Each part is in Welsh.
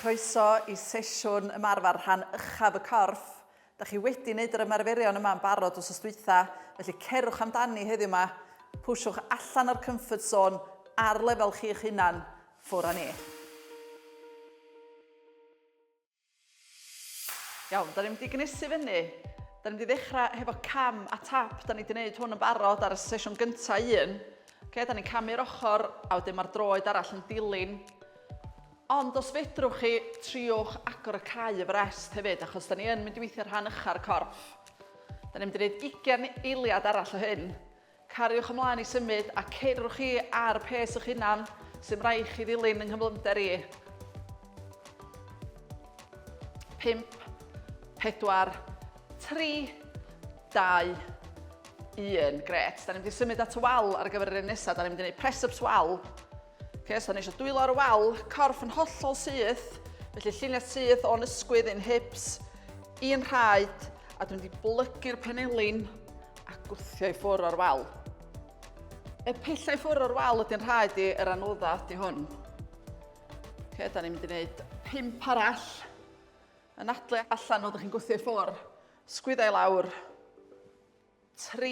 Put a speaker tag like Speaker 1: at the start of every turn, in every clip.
Speaker 1: Croeso i sesiwn ymarfer rhan uchaf y corff. Da chi wedi wneud yr ymarferion yma yn barod os ystwytha, felly cerwch amdani heddiw yma. Pwyswch allan o'r comfort zone ar lefel chi'ch hunan, ffwr â ni. Iawn, da ni'n mynd i gnesu fyny. Da ni'n mynd i ddechrau hefo cam a tap. Da ni wedi gwneud hwn yn barod ar y sesiwn gyntaf un. Okay, da ni'n camu'r ochr a wedyn mae'r droed arall yn dilyn. Ond os fedrwch chi, triwch agor y cae y frest hefyd, achos da ni yn mynd i weithio rhan ycha'r corff. Da ni'n mynd i wneud 20 eiliad arall o hyn. Cariwch ymlaen i symud a ceirwch chi ar pes eich hunan sy'm rhaid chi ddilyn yng nghyflymder i. 5, 4, 3, 2, 1. Gret. Da ni'n mynd i symud at y wal ar gyfer yr un nesaf. Da ni'n mynd i wneud press-ups wal. Ok, so o'n eisiau dwylo ar y wal, corff yn hollol syth, felly lluniau syth o'n ysgwydd i'n hips, i'n rhaid, a dwi'n wedi blygu'r penelin a gwthio i ffwrdd o'r wal. Y pellau ffwrdd o'r wal ydy'n rhaid i yr anodda ydy hwn. Ok, da ni'n mynd i wneud pimp arall. Yn adle allan o ddech chi'n gwthio i ffwrdd, sgwyddau lawr, 3,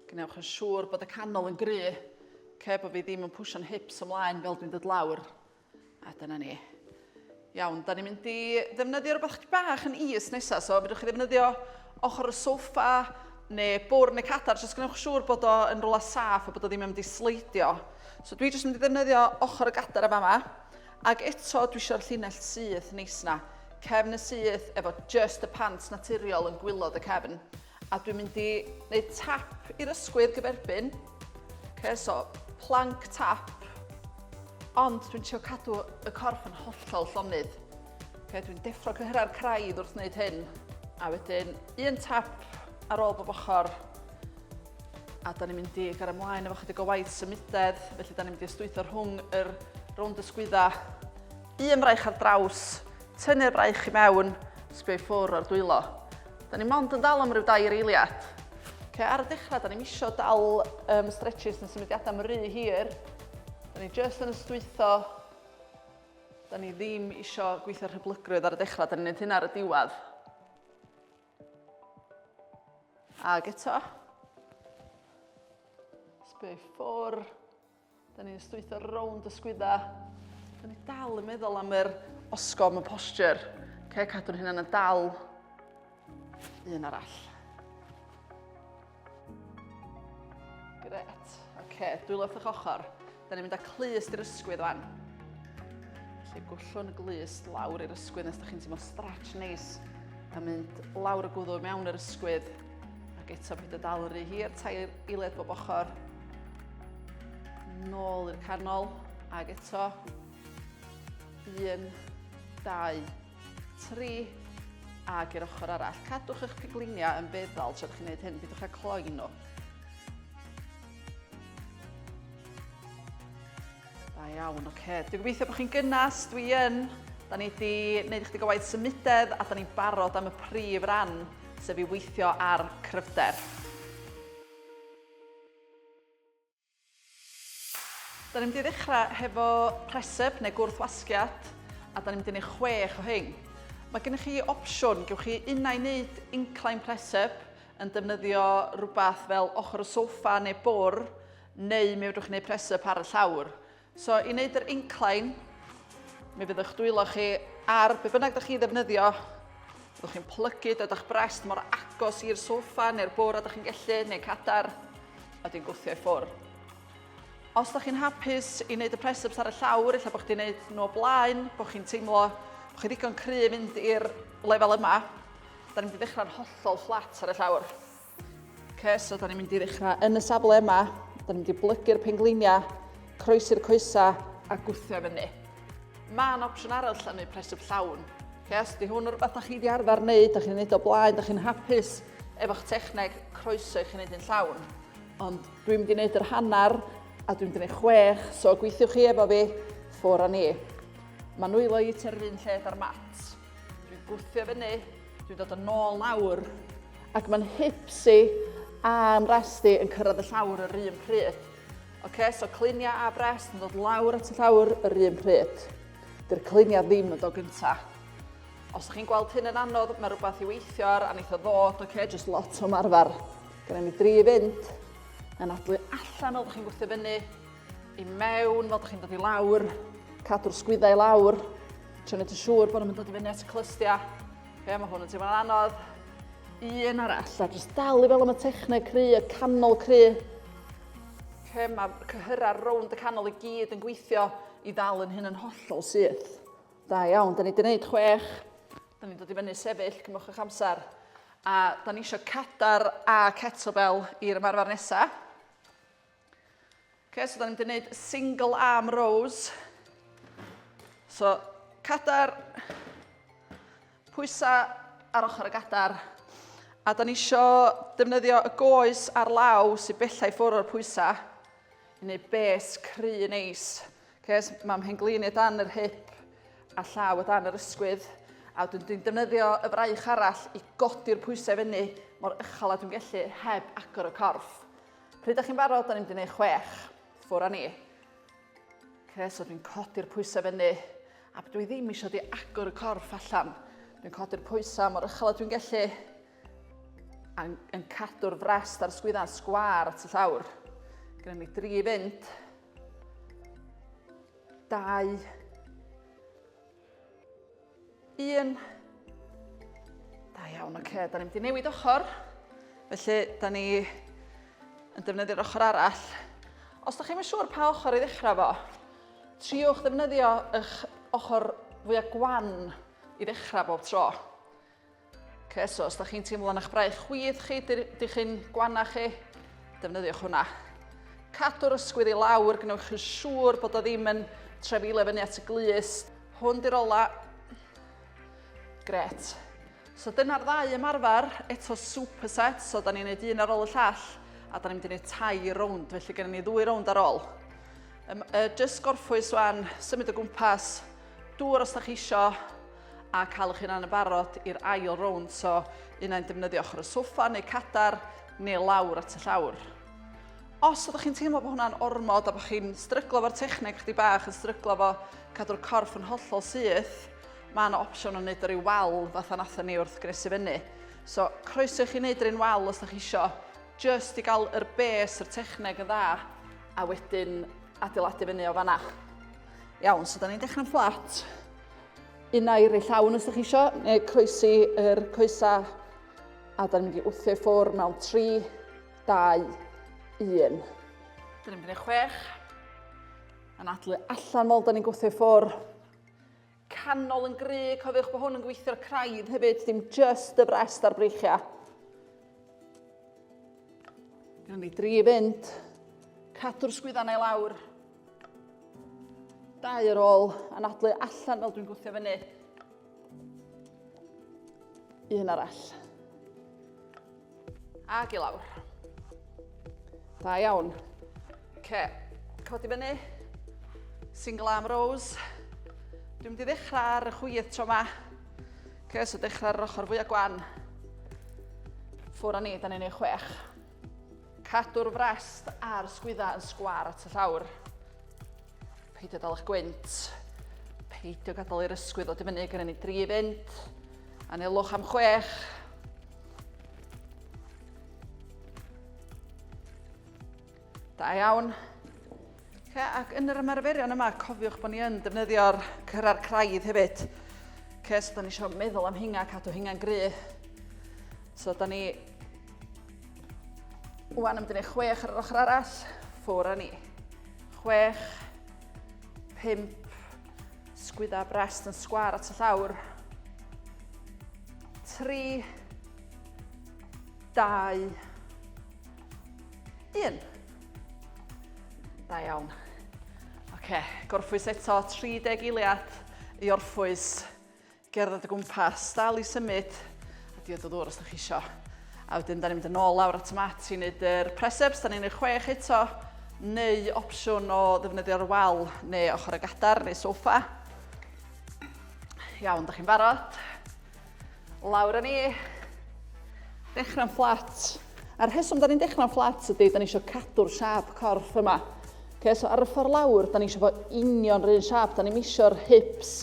Speaker 1: Gwnewch yn siŵr bod y canol yn gry, ce bod fi ddim yn pwsio'n hips ymlaen fel dwi'n dod lawr. A dyna ni. Iawn, da ni'n mynd i ddefnyddio rhywbeth chdi bach yn is nesaf, so fydwch chi ddefnyddio ochr y sofa neu bwrn y cadar, jyst gwnewch siŵr bod o yn rhywle saff a bod o ddim yn mynd i sleidio. So dwi jyst yn mynd i ddefnyddio ochr y gadar yma, Ag eto dwi isio'r llinell syth neis na, cefn y syth efo just y pant naturiol yn gwylod y cefn. A dwi'n mynd i wneud tap i'r ysgwydd gyferbyn. Ok, so plank tap. Ond dwi'n trio cadw y corff yn hollol llonydd. Ok, dwi'n deffro cyhyrau'r craidd wrth wneud hyn. A wedyn un tap ar ôl bob ochr. a da ni'n mynd i gario ymlaen efo chydig o waith symudedd, felly da ni'n mynd i ystwytho rhwng yr rownd ysgwydda. Un braich ar draws, tynnu'r braich i mewn, sbio i ffwr o'r dwylo. Da ni mond yn dal am rhyw dair eiliad. Okay, ar y dechrau, da ni'n misio dal um, stretches yn symudiadau am rhy hir. Da ni just yn ystwytho. Da ni ddim isio gweithio rhyblygrwydd ar y dechrau, da ni'n neud hynna ar y diwedd. Ag eto. Sbio i ffwr. Da ni'n stwytho rownd y sgwydda. Da ni dal yn meddwl am yr osgom y posture. Ce, cadw'n hynna'n yn dal. Un arall. Gret. Oce, dwylo wrth eich ochr. Da ni'n mynd â clust i'r ysgwydd fan. Felly gwllwn y glust lawr i'r ysgwydd nes da chi'n teimlo stretch neis. A mynd lawr y gwddw mewn yr ysgwydd. Ac eto byd y dal rhy hir, tair eiled bob ochr. Nôl i'r canol. Ac eto. Un, dau, tri, ag i'r ochr arall. Cadwch eich pigliniau yn feddal tra chi'n gwneud hyn, bydwch a cloi nhw. Da iawn, oce. Okay. Dwi'n gobeithio bod chi'n gynnas, dwi yn. Da ni wedi gwneud ychydig o waith symudedd a da ni'n barod am y prif ran, sef i weithio ar cryfder. Da ni'n mynd i ddechrau hefo preseb neu gwrthwasgiad a da ni'n mynd i wneud chwech o hyn. Mae gennych chi opsiwn, gewch chi unau wneud incline preseb yn defnyddio rhywbeth fel ochr y sofa neu bwr, neu mi fedrwch chi wneud preseb ar y llawr. So i wneud yr incline, mi fydd eich dwylo chi ar be bynnag da chi ddefnyddio, byddwch chi'n plygu dod â'ch brest mor agos i'r sofa neu'r bwr a da chi'n gellu, neu cadar, a di'n gwthio i ffwrdd. Os da chi'n hapus i wneud y press-ups ar y llawr, illa bod chi'n gwneud nhw o blaen, bod chi'n teimlo bod chi ddigon cryf fynd i'r lefel yma, da ni'n mynd i ddechrau'n hollol fflat ar y llawr. Ok, so da ni'n mynd i ddechrau yn y safle yma. Da ni'n mynd i blygu'r pengleiniau, croesi'r coesa a gwthio fyny. Mae yna opsiwn arall lle neu presif llawn. Ok, os di hwn o'r rhywbeth da chi wedi arfer wneud, da chi'n wneud o blaen, da chi'n hapus efo'ch techneg croeso i chi'n wneud yn llawn. Ond dwi'n mynd i wneud yr hanner a dwi'n mynd i wneud chwech, so gweithiwch chi efo fi, ffwr a ni. Mae nwylo i tua'r un lle da'r mat. Dwi'n gwthio fyny, dwi'n dod yn ôl lawr, ac mae'n hipsi a'n rest i yn cyrraedd y llawr yr un pryd. OK, so clinia a brest yn dod lawr at y llawr yr un pryd. Dy'r clinia ddim yn dod gynta. Os ydych chi'n gweld hyn yn anodd, mae rhywbeth i weithio ar, a wnaeth o ddod, OK, just lot o marfer. Gyda ni dri i fynd, yn adlu allan o ddech chi'n gwthio fyny, i mewn fel chi'n dod i lawr, cadw'r sgwyddau lawr, trio wneud yn siŵr bod nhw'n dod i fyny at y clystiau. Ie, mae hwn yn teimlo'n anodd. Un arall, a jyst dal i fel am y techneg cry, y canol cry. Ie, mae cyhyrau rownd y canol i gyd yn gweithio i ddal yn hyn yn hollol syth. Da iawn, da ni wedi gwneud chwech. Da ni'n dod i fyny sefyll, cymwch eich amser. A da ni eisiau cadar a kettlebell i'r ymarfer nesaf. Okay, so da ni'n mynd i wneud single arm rows. So, cadar, pwysau ar ochr y gadar. A da ni isio defnyddio y goes ar law sy'n bellai ffwrdd o'r pwysau i wneud bes cry neis. Ces, mae'n hyn glin i dan yr hip a llaw o dan yr ysgwydd. A dwi'n dwi'n defnyddio y fraich arall i godi'r pwysau fyny mor ychal a dwi'n gallu heb agor y corff. Pryd ydych chi'n barod? Da ni'n mynd i wneud chwech. Ffwr â ni. Okay, so dwi'n codi'r pwysau fyny, a dwi ddim eisiau di agor y corff allan. Dwi'n codi'r pwysau mor uchel a dwi'n gallu, a yn cadw'r frest a'r sgwydda'n sgwar at y llawr. Gynna ni dri fynd, dau, Un. Da iawn, oce, okay. da ni'n mynd i newid ochr. Felly, da ni yn defnyddio'r ochr arall. Os da chi'n siŵr pa ochr i ddechrau fo, triwch ddefnyddio eich ochr fwyaf gwan i ddechrau bob tro. Okay, so os da chi'n teimlo'n eich braich chwith chi, dych chi'n gwanna chi, defnyddiwch hwnna. Cadw'r ysgwydd i lawr, gwnewch chi'n siŵr bod o ddim yn trefile fyny at y glus. Hwn di'r ola. Gret. So dyna'r ddau ymarfer, eto superset, so da ni'n neud un ar ôl y llall, a da ni'n mynd i neud tair rownd, felly gennym ni ddwy rownd ar ôl. Um, uh, just gorffwys wan, symud o gwmpas, dŵr os da chi eisiau, a cael eich hunan yn barod i'r ail rownd, so un ai'n defnyddio ochr y soffa neu cadar neu lawr at y llawr. Os ydych chi'n teimlo bod hwnna'n ormod a bod chi'n stryglo fo'r techneg chdi bach, yn stryglo fo cadw'r corff yn hollol syth, mae yna opsiwn o wneud yr ei wal fatha natho ni wrth gresu fyny. So, croeso i chi wneud yr un wal os ydych chi isio, just i gael yr bes, yr techneg yn dda, a wedyn adeiladu fyny o fanna. Iawn, so da ni'n dechrau'n fflat. Un air ei llawn os ydych chi isio, neu croesi yr coesa. A da ni'n mynd i wthio i ffwr mewn 3, 2, 1. Da ni'n mynd i 6. Yn adlu allan mol, da ni'n gwthio i ffwr. Canol yn gry, cofiwch bod hwn yn gweithio'r craidd hefyd, dim just y frest a'r breichiau. Gan ni dri fynd. Cadw'r sgwyddau na i lawr. Dau ar ôl anadlu allan fel dwi'n gwthio fyny. Un arall. Ac i lawr. Da iawn. Ce, codi fyny. Single arm rows. Dwi'n mynd i ddechrau ar y chwith tro yma. Ce, so dechrau ar yr ochr fwyaf gwan. Ffwr â ni, da ni'n ei chwech. Cadw'r frest a'r sgwyddau yn sgwar at y llawr. Peidio dal eich gwynt. Peidio gadael i'r ysgwydd o dyfynnu gyda ni dri fynd. Anelwch am chwech. Da iawn. Okay, ac yn yr ymarferion yma, cofiwch bod ni yn defnyddio'r cyrra'r craidd hefyd. Okay, so da ni eisiau meddwl am hinga, cadw hinga'n gry. So da ni... Wan yn mynd chwech ar yr ochr arall, ffwr a ni. Chwech, pimp, sgwydda brest yn sgwar at y llawr. 3, 2, 1. Da iawn. Oce, gorffwys eto, 30 eiliad i orffwys, gerdded y gwmpas, dal i symud, a diod o ddŵr os ydych chi isio. A wedyn, da ni'n mynd yn ôl lawr at y mat i wneud yr preseps, da ni'n gwneud chwech eto, neu opsiwn o ddefnyddio'r wal neu ochr y gadar neu sofa. Iawn, da chi'n barod? Lawr â ni. Dechrau'n fflat. A'r rheswm da ni'n dechrau'n fflat ydy, da ni eisiau cadw'r siap corff yma. Okay, so ar y ffordd lawr, da ni eisiau fod union rhywun siap. Da ni'n eisiau'r hips,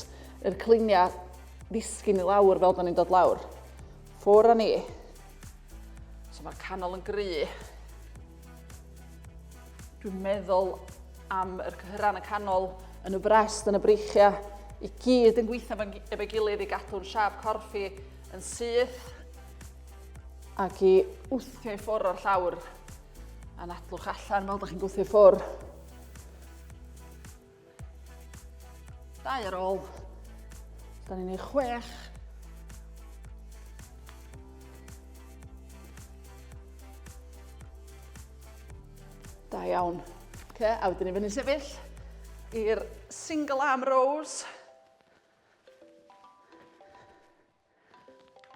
Speaker 1: yr cliniau, ddisgyn i lawr fel da ni'n dod lawr. Ffwr â ni. So mae'r canol yn gry. Dwi'n meddwl am yr cyhyran y canol yn y brest, yn y breichiau, i gyd yn gweithio efo'i gilydd i gadw'n siap corff i yn syth ac i wthio i ffwrdd o'r llawr a nadlwch allan fel ydych chi'n gwthio i ffwrdd. Dau ar ôl. Da ni'n ei chwech. Da iawn. Okay, a wedyn ni fyny sefyll i'r single arm rows.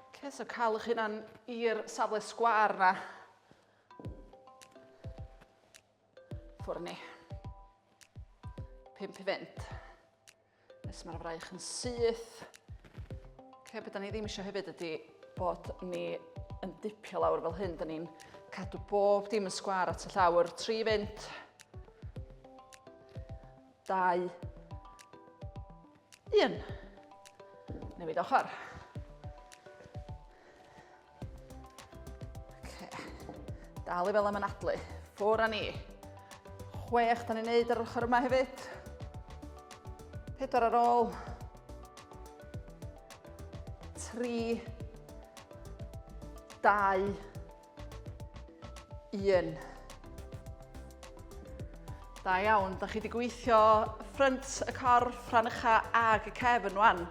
Speaker 1: Okay, so cael eich hunan i'r safle sgwar na. Ffwrn ni. Pimp i fynd. Nes mae'r fraich yn syth. Lle beth ni ddim eisiau hefyd ydy bod ni yn dipio lawr fel hyn. Da ni'n cadw bob dim yn sgwar at y llawr. Tri fynd. Dau. Un. Newid ochr. Okay. Dal i fel am anadlu. Ffwr a ni. Chwech, da ni'n neud ar ochr yma hefyd. Pedwar ar ôl. Tri. Dau. Un. Da iawn, da chi wedi gweithio ffrynt y corff, rhan ucha ag y cefn rwan.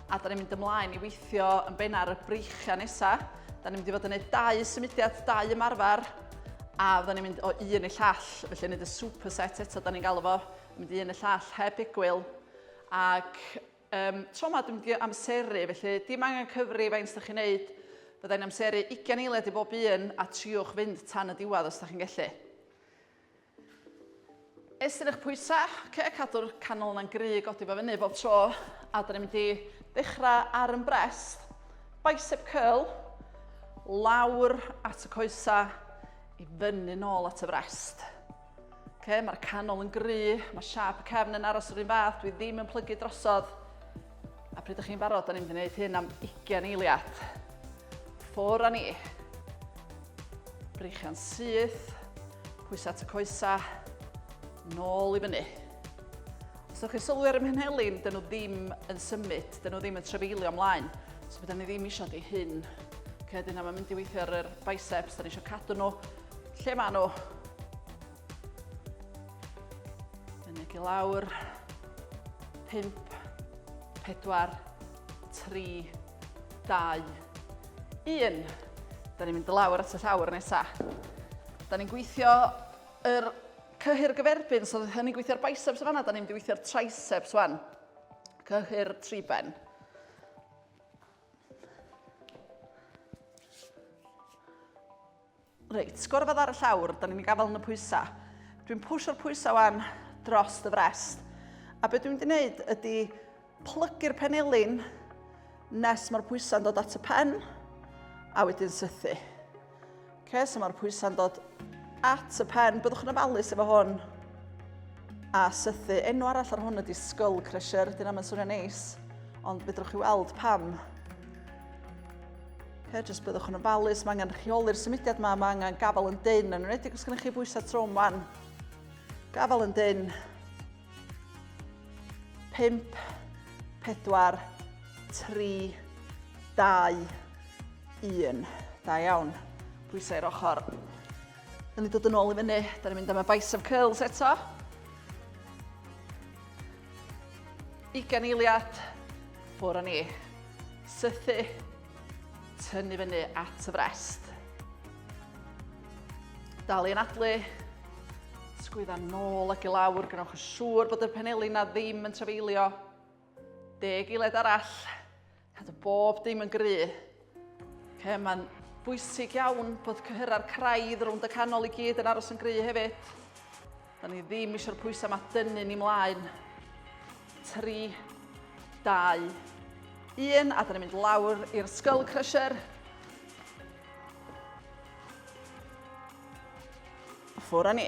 Speaker 1: A da ni'n mynd ymlaen i weithio yn benna ar y breichiau nesaf. Da ni'n mynd i fod yn gwneud dau symudiad, dau ymarfer. A fydda ni'n mynd o un i llall, felly yn gwneud y superset eto, da ni'n galw fo. Yn mynd i un y llall, heb egwyl. Ac Ym tro yma dwi'n mynd i amseru, felly dim angen cyfri faint ydych chi'n wneud, fydda i'n amseru 20 eiliad i bob un a triwch fynd tan y diwedd os ydych chi'n gallu. Estyn eich pwysau, okay, cadw'r canol yna'n gry, godi fo fyny bob tro, a dyn ni'n mynd i dechrau ar yn brest, bicep curl, lawr at y coesau, i fyny nôl at y frest. Okay, mae'r canol yn gry, mae siap y cefn yn aros yr un fath, dwi ddim yn plygu drosodd. A pryd ydych chi'n barod, da ni'n mynd i wneud hyn am 20 eiliad. Ffwr a ni. Breichiau'n syth, pwysau at y coesa, nôl i fyny. Os ydych chi'n sylwi ar y mhenhelin, dyn nhw ddim yn symud, dyn nhw ddim yn trefeilio ymlaen. So byddwn ni ddim eisiau di hyn. Okay, dyna mae'n mynd i weithio ar yr biceps, da ni eisiau cadw nhw Lle maen nhw? Mynyg i lawr. 5, 4, 3, 2, 1. Da ni'n mynd lawr at y llawr nesaf. Da ni'n gweithio yr cyhyr gyferbyn, so da ni'n gweithio'r biceps yma, da ni'n mynd i weithio'r triceps wan. Cyhyr tri ben. Reit, sgwr fod ar y llawr, da ni'n gafael yn y pwysau. Dwi'n pwysio'r pwysau wan dros y frest. A beth dwi'n mynd i wneud ydy plygu'r penelin nes mae'r pwysau'n dod at y pen a wedyn sythu. Okay, so mae'r pwysau'n dod at y pen. Byddwch yn ofalus efo hwn a sythu. Enw arall ar hwn ydy skull crusher, dyna mae'n swnio'n neis, ond fedrwch chi weld pam. Her, jyst byddwch yn ofalus, mae angen rheoli'r symudiad yma, mae angen gafael yn dyn, yn wneud os gennych chi bwysau trwm wan. Gafael yn dyn. 5, 4, 3, 2, 1. Da iawn. Pwysau i'r ochr. Yn ni dod yn ôl i fyny, da ni'n mynd am y bicep curls eto. Ugain eiliad, ffwr o ni. Sythu, tynnu fyny at y frest. Dal i anadlu, sgwydda nôl ac i lawr, gwnewch yn siŵr bod y penelin na ddim yn trafeilio. Deg eiliad arall, Cadw bob dim yn gry. Okay, Mae'n bwysig iawn bod cyhyrra'r craidd rownd y canol i gyd yn aros yn gry hefyd. Da ni ddim eisiau'r pwysau mae dynnu ni mlaen. 3, 2, 1, a da ni'n mynd lawr i'r skull crusher. Ffwr â ni.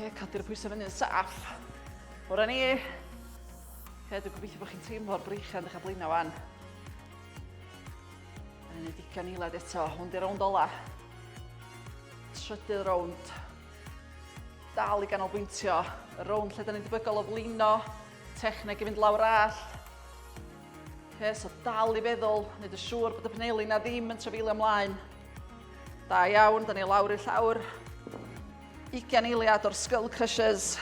Speaker 1: Oce, cadw'r pwysau fyny'n saff. Bore ni. Oce, dwi'n gobeithio bod chi'n teimlo'r breichiau'n dechrau blaenau wan. Yn ei digon eilad eto, hwn di rownd ola. Trydydd rownd. Dal i ganolbwyntio. Y rownd lle da ni'n debygol o flino. Techneg i fynd lawr all. Oce, so dal i feddwl, wneud y siŵr bod y penelu na ddim yn trefeilio ymlaen. Da iawn, da ni lawr i llawr. 20 eiliad o'r Skull Crushers.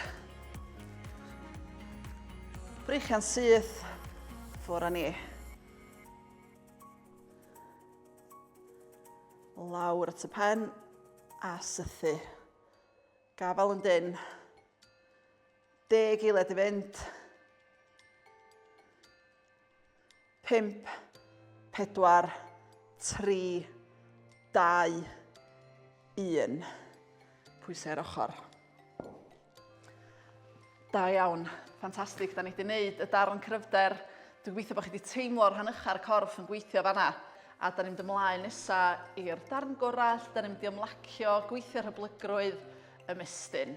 Speaker 1: Breichian syth, ffwr a ni. Lawr at y pen a sythu. Gafal yn dyn. Deg eiliad i fynd. Pimp, pedwar, tri, dau, un. Pwysau ar ochr. Da iawn. Ffantastig, da ni wedi gwneud y darn cryfder. Dwi'n gweithio bod chi wedi teimlo'r rhan ycha'r corff yn gweithio fanna. A da ni'n mynd ymlaen nesaf i'r darn gorau, da ni'n mynd i ymlacio, gweithio rhyblygrwydd, ymestyn.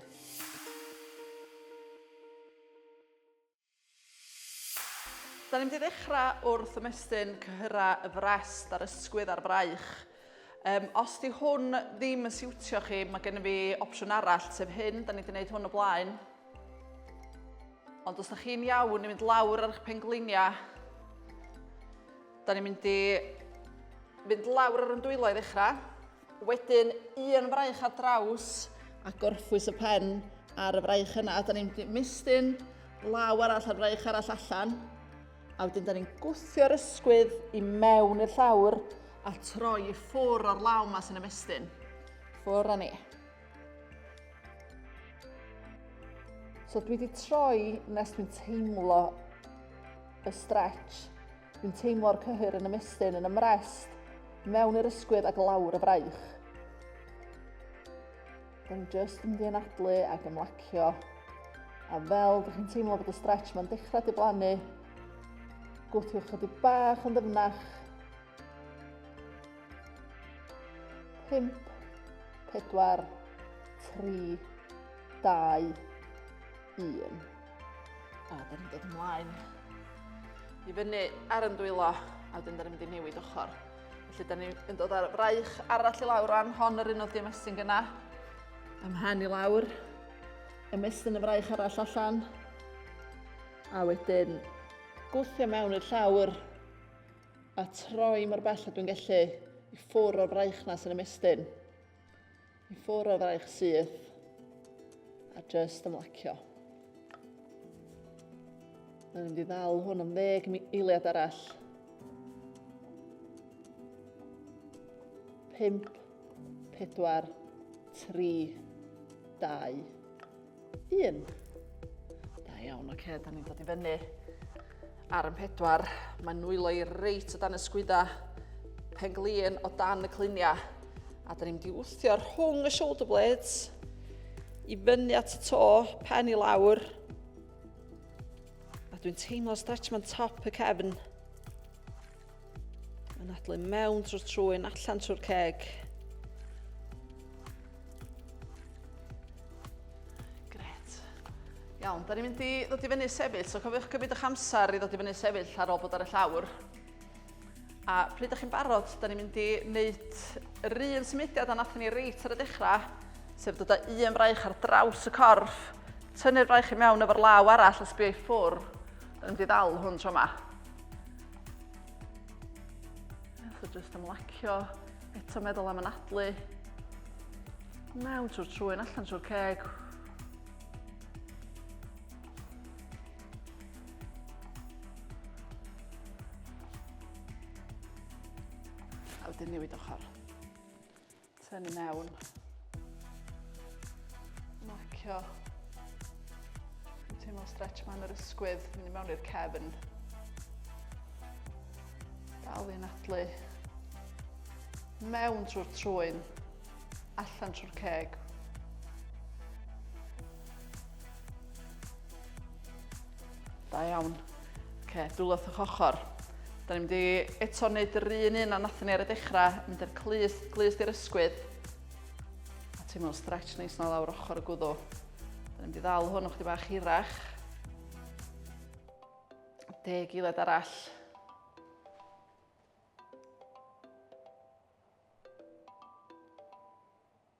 Speaker 1: Da ni'n mynd i ddechrau wrth ymestyn cyhyrau y frest a'r ysgwydd a'r fraich. Um, os di hwn ddim yn siwtio chi, mae gennym fi opsiwn arall, sef hyn, da ni wedi gwneud hwn o blaen. Ond os da chi'n iawn i mynd lawr ar eich pengliniau, da ni'n mynd i fynd lawr ar y dwylo i ddechrau. Wedyn un fraich ar draws a gorffwys y pen ar y fraich yna. A da ni'n mistyn law arall a'r fraich arall allan. A wedyn da ni'n gwthio'r ysgwydd i mewn i'r llawr a troi i ffwr o'r law yma sy'n ymestyn. Ffwr a ni. So dwi wedi troi nes dwi'n teimlo y stretch Dwi'n teimlo'r cyhyr yn ymestyn yn ymrest mewn i'r ysgwydd ac lawr y fraich. Dwi'n just yn ddianadlu ac ymlacio. A fel dych chi'n teimlo bod y stretch mae'n dechrau diflannu, gwthiwch chydig bach yn ddyfnach. 5, 4, 3, 2, 1. A da ni'n dod ymlaen i fyny ar yn dwylo a wedyn da ni'n mynd i newid ochr. Felly da ni'n dod ar fraich arall i lawr rhan, hon yr un oedd dim estyn gyna. Ymhen i lawr, ymestyn y fraich arall allan. A wedyn gwthio mewn i'r llawr a troi mor bell a dwi'n gallu i ffwr o'r fraich na sy'n ymestyn. I ffwr o fraich syth a just ymlacio. Mae'n mynd i ddal hwn am ddeg eiliad arall. Pimp, pedwar, tri, dau, Un. Da iawn, oce, okay, da ni'n dod i fyny. Ar yn pedwar, mae nwylo i reit o dan y sgwydda. Penglin o dan y cluniau. A da ni'n mynd i wthio rhwng y shoulder blades i fyny at y to, pen i lawr. A dwi'n teimlo stretch ma'n top y cefn. Yn adlu mewn trwy'r trwyn, allan trwy'r ceg. Gret. Iawn, da ni'n mynd i ddod i fyny sefyll, so cofiwch cymryd eich amser i ddod i fyny sefyll ar ôl bod ar y llawr. A pryd ydych chi'n barod, da ni'n mynd i wneud yr un symudiad a nath ni reit ar y dechrau, sef dod â un fraich ar draws y corff, tynnu'r fraich i mewn efo'r law arall a sbio i ffwr, yn mynd i ddal hwn tro yma. So jyst ymlacio, eto meddwl am anadlu. Mewn trwy'r trwy'n allan trwy'r ceg. A wedyn newid ochr. Tynnu mewn. Macio. Dwi'n teimlo stretch ma'n yr ysgwydd, mynd mewn i'r cefn. Dal i'n adlu. Mewn trwy'r trwyn, allan trwy'r ceg. Da iawn. Oce, dwylo wrth eich ochr. Da ni'n mynd i eto wneud yr un un a nathon ni ar y dechrau, mynd i'r clus, clus i'r ysgwydd. A ti'n meddwl stretch neis na lawr ochr y gwddw. Da ni'n mynd i ddal hwn o'ch di bach hirach. Deg giled arall.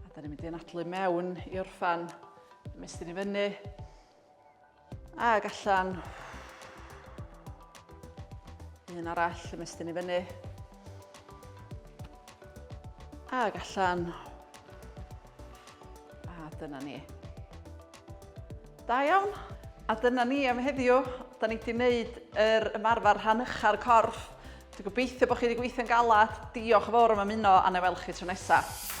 Speaker 1: A da ni'n mynd i anadlu mewn i orffan. Mestyn i fyny. Ag allan. Un arall, mestyn i fyny. Ag allan. A dyna ni. Da iawn. A dyna ni am heddiw. Da ni wedi gwneud yr ymarfer rhan ucha'r corff. Dwi'n gobeithio bod chi wedi gweithio'n galed. Diolch yn fawr am ymuno a na weld chi tro nesaf.